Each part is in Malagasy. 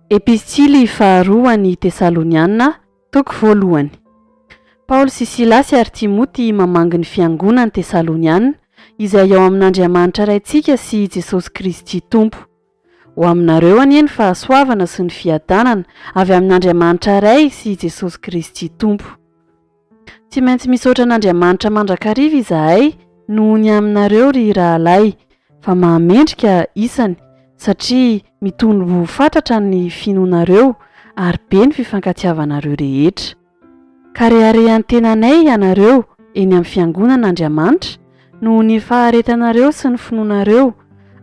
Epistily faharoa ho an'ny Tesaloniana, toko voalohany. Paoly sy Silasy ary Timoty mamangy ny fiangonan'i Tesaloniana, izay ao amin'Andriamanitra Raintsika sy i Jesosy Kristy Tompo. Ho aminareo anie ny fahasoavana sy ny fiadanana avy amin'Andriamanitra Ray sy i Jesosy Kristy Tompo. Tsy maintsy misaotra an'Andriamanitra mandrakariva izahay noho ny aminareo ry rahalahy fa mahamendrika isany satria mitony ho fatratra ny finoanareo ary be ny fifankatiavanareo rehetra. Ka reharehan-tenanay ianareo eny amin'ny fiangonan' Andriamanitra noho ny faharetanareo sy ny finoanareo,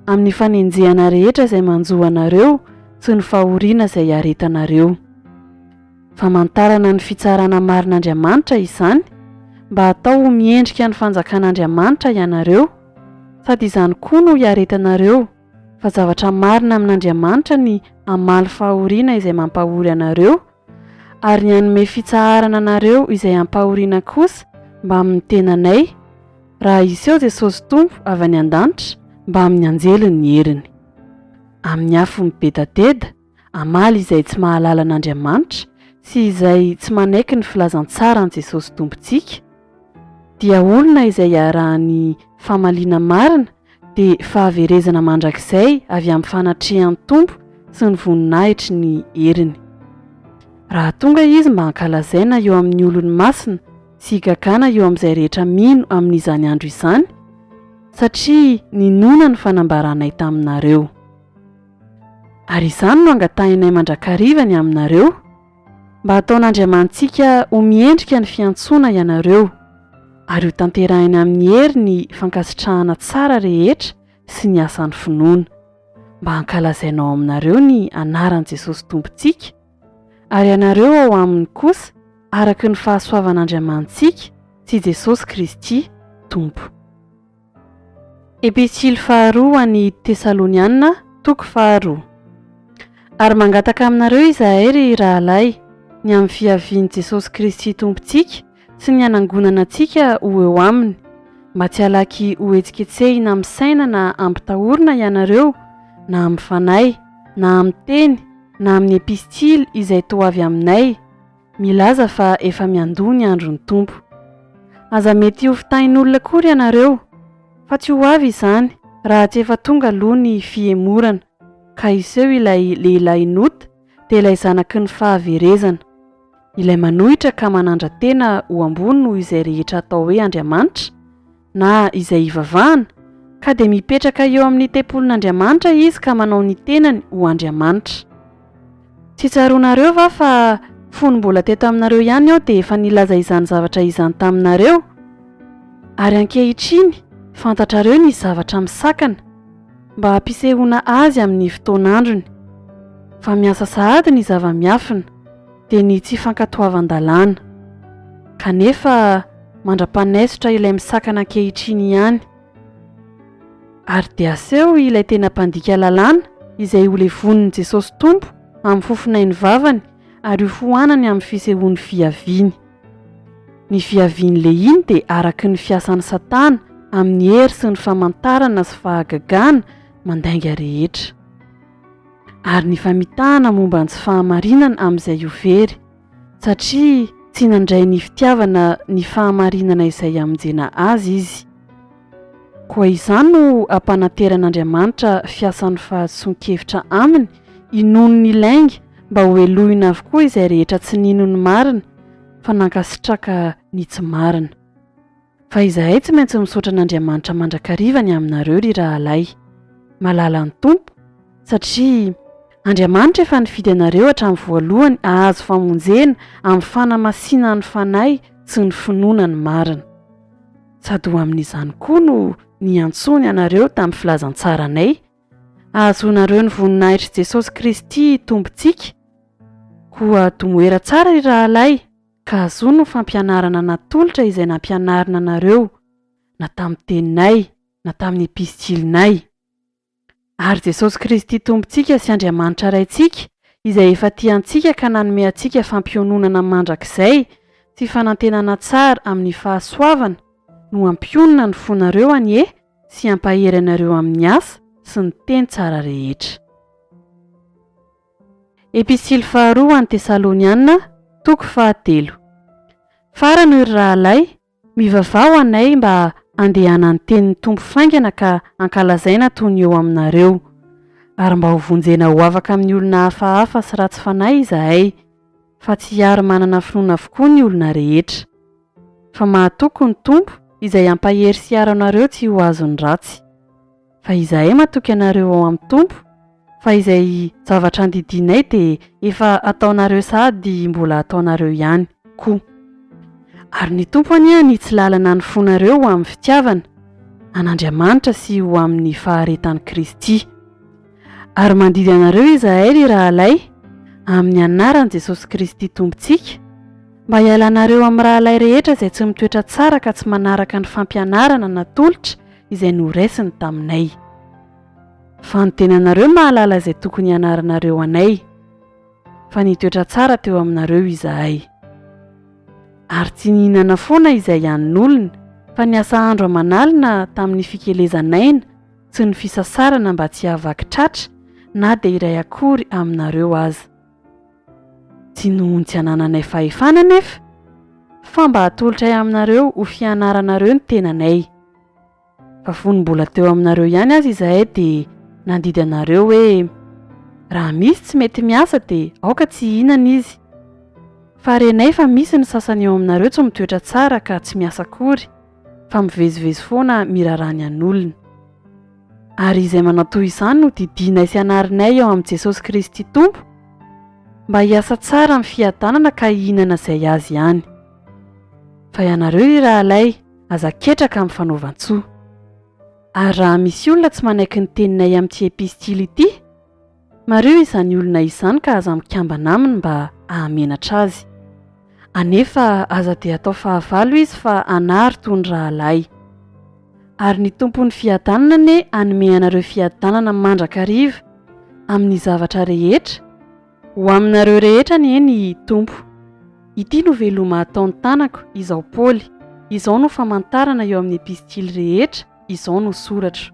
amin'ny fanenjehana rehetra izay manjo anareo sy ny fahoriana izay iaretanareo. Famantarana ny fitsarana marin' Andriamanitra izany, mba hatao ho miendrika ny fanjakan' Andriamanitra ianareo, sady izany koa no iaretanareo, fa zavatra marina amin' Andriamanitra ny hamaly fahoriana izay mampahory anareo, Ary ny hanome fitsaharana anareo izay ampahoriana kosa mbamin'ny tenanay, raha hiseho Jesosy Tompo avy any an-danitra mbamin'ny anjeliny ny heriny. Amin'ny afo mibedateda, hamaly izay tsy mahalala an'Andriamanitra sy izay tsy manaiky ny filazantsaran'i Jesosy Tompontsika, dia olona izay iarahan'ny famaliana marina dia fahaverezana mandrakizay avy amin'ny fanatrehan'ny Tompo sy ny voninahitry ny heriny. Raha tonga Izy mba hankalazaina eo amin'ny olony masina sy higagana eo amin'izay rehetra mino amin'izany andro izany, satria ninoana ny fanambaranay taminareo. Ary izany no angatahinay mandrakariva ny aminareo, Mba hataon'Andriamanitsika ho miendrika ny fiantsoana ianareo, ary hotanterahiny amin'ny hery ny fankasitrahana tsara rehetra sy ny asan'ny finoana, mba hankalazaina ao aminareo ny anaran'i Jesosy Tompontsika, ary ianareo ao aminy kosa araka ny fahasoavan'Andriamanitsika sy Jesosy Kristy Tompo. Epistily faharoa ho an'ny Tesalonianina, toko faharoa. Ary mangataka aminareo izahay, ry rahalahy, ny amin'ny fiavian'i Jesosy Kristy Tompontsika sy ny hanangonana antsika ho eo Aminy, mba tsy halaky hohetsiketsehina amin'ny saina na hampitahorina ianareo na amin'ny fanahy, na amin'ny teny, na amin'ny epistily izay toa avy aminay, milaza fa efa miandoha ny andron'ny Tompo. Aza mety ho fitahin'olona akory ianareo, fa tsy ho avy izany raha tsy efa tonga aloha ny fihemorana, ka hiseho ilay lehilahy nota dia ilay zanaky ny fahaverezana, ilay manohitra ka manandra-tena ho ambony noho izay rehetra atao hoe andriamanitra, na izay hivavahana, ka dia mipetraka eo amin'ny tempolin'Andriamanitra izy ka manao ny tenany ho Andriamanitra. Tsy tsaroanareo va fa fony mbola teto aminareo ihany aho dia efa nilaza izany zavatra izany taminareo? Ary ankehitriny fantatrareo ny zavatra misakana, mba hampisehoana azy amin'ny fotoan'androny, fa miasa sahady ny zava-miafina. dia ny tsy fankatoavan-dalàna. Kanefa mandra-panaisotra ilay misakana ankehitriny ihany. Ary dia aseho ilay tena mpandika lalàna izay holevonin'i Jesosy Tompo amin'ny fofon'ain'ny vavany ary hofoanany amin'ny fisehoan'ny fiaviany. Ny fiavian'i Lehia dia araky ny fiasan'i Satana amin'ny hery sy ny famantarana sy fahagagana mandainga rehetra. Ary ny famitahana momba ny tsy fahamarinana amin'izay ho very, satria tsy nandray ny fitiavana ny fahamarinana izay hamonjena azy izy. Koa izany no hampananteran'Andriamanitra fiasan'ny fahadisoan-kevitra aminy inoany ny lainga mba hohelohina avokoa izay rehetra tsy nino ny marina fa nankasitraka ny tsy marina. Fa izahay tsy maintsy misaotra an'Andriamanitra mandrakariva ny aminareo ry rahalahy, malala ny Tompo, satria Andriamanitra efa nifidy anareo hatramin'ny voalohany hahazo famonjena amin'ny fanamasinan'ny Fanahy sy ny finoana ny marina. Sady ho amin'izany koa no niantsoany anareo tamin'ny filazantsaranay, hahazoanareo ny voninahitr'i Jesosy Kristy Tompontsika. Koa domoera tsara ry rahalahy! ka azoa ny fampianarana natolotra izay nampianarina anareo na tamin'ny teninay na tamin'ny episitilinay. Ary Jesosy Kristy Tompontsika sy Andriamanitra Raintsika izay efa tia antsika ka nanome antsika fampiononana mandrakizay sy fanantenana tsara amin'ny fahasoavana no hampionona ny fonareo anie sy hampahery anareo amin'ny asa sy ny teny tsara rehetra. Epistily faharoa ho an'ny Tesaloniana, toko fahatelo. Farany hoy ry rahalahy, mivavaha ho anay mba handehanan'ny tenin'ny Tompo faingana ka hankalazaina toy ny eo aminareo, ary mba ho vonjena ho afaka amin'ny olona hafahafa sy ratsy fanahy izahay, fa tsy hiaro manana finoana avokoa ny olona rehetra. Fa mahatoky ny Tompo, izay hampahery sy hiaro anareo tsy ho azon'ny ratsy. Fa izahay matoky anareo ao amin'ny Tompo, fa izay zavatra andidianay dia efa ataonareo sady mbola ataonareo ihany koa. Ary ny Tompo anie hanitsy lalana ny fonareo ho amin'ny fitiavana an'Andriamanitra sy ho amin'ny faharetan'i Kristy. Ary mandidy anareo izahay, ry rahalahy, amin'ny anaran'i Jesosy Kristy Tompontsika, mba hialanareo amin'ny rahalahy rehetra izay tsy mitoetra tsara ka tsy manaraka ny fampianarana natolotra izay noraisiny taminay. Fa ny tenanareo mahalala izay tokony hianaranareo anay, fa nitoetra tsara teo aminareo izahay. Ary tsy nihinana foana izay hanin'olona, fa niasa andro aman'alina tamin'ny fikelezan'aina sy ny fisasarana mba tsy hahavaky tratra na dia iray akory aminareo aza. Tsy noho ny tsy anananay fahefana anefa, fa mba hatolotray aminareo ho fianaranareo ny tenanay. Fa fony mbola teo aminareo ihany aza izahay dia nandidy anareo hoe, Raha misy tsy mety miasa dia aoka tsy hihinana izy. Fa renay fa misy ny sasany eo aminareo tsy mitoetra tsara ka tsy miasa akory, fa mivezivezy foana miraharaha ny an'olona. ary izay manao toy izany no didianay sy anarinay eo amin'i Jesosy Kristy Tompo mba hiasa tsara amin'ny fiadanana ka hihinana izay azy ihany. Fa ianareo ry rahalahy, aza ketraka amin'ny fanaovan-tsoa. Ary raha misy olona tsy manaiky ny teninay amin'ity epistily ity, Mariho izany olona izany ka aza mikambana aminy mba hahamenatra azy. Anefa aza dia atao fahavalo izy fa hanary toy ny rahalahy. Ary ny Tompon'ny fiadanana anie hanome anareo fiadanana mandrakariva amin'ny zavatra rehetra, ho aminareo rehetra anie ny Tompo. Ity no veloma ataon'ny tanako, izaho Paoly, izao no famantarana eo amin'ny epistily rehetra izao nosoratro.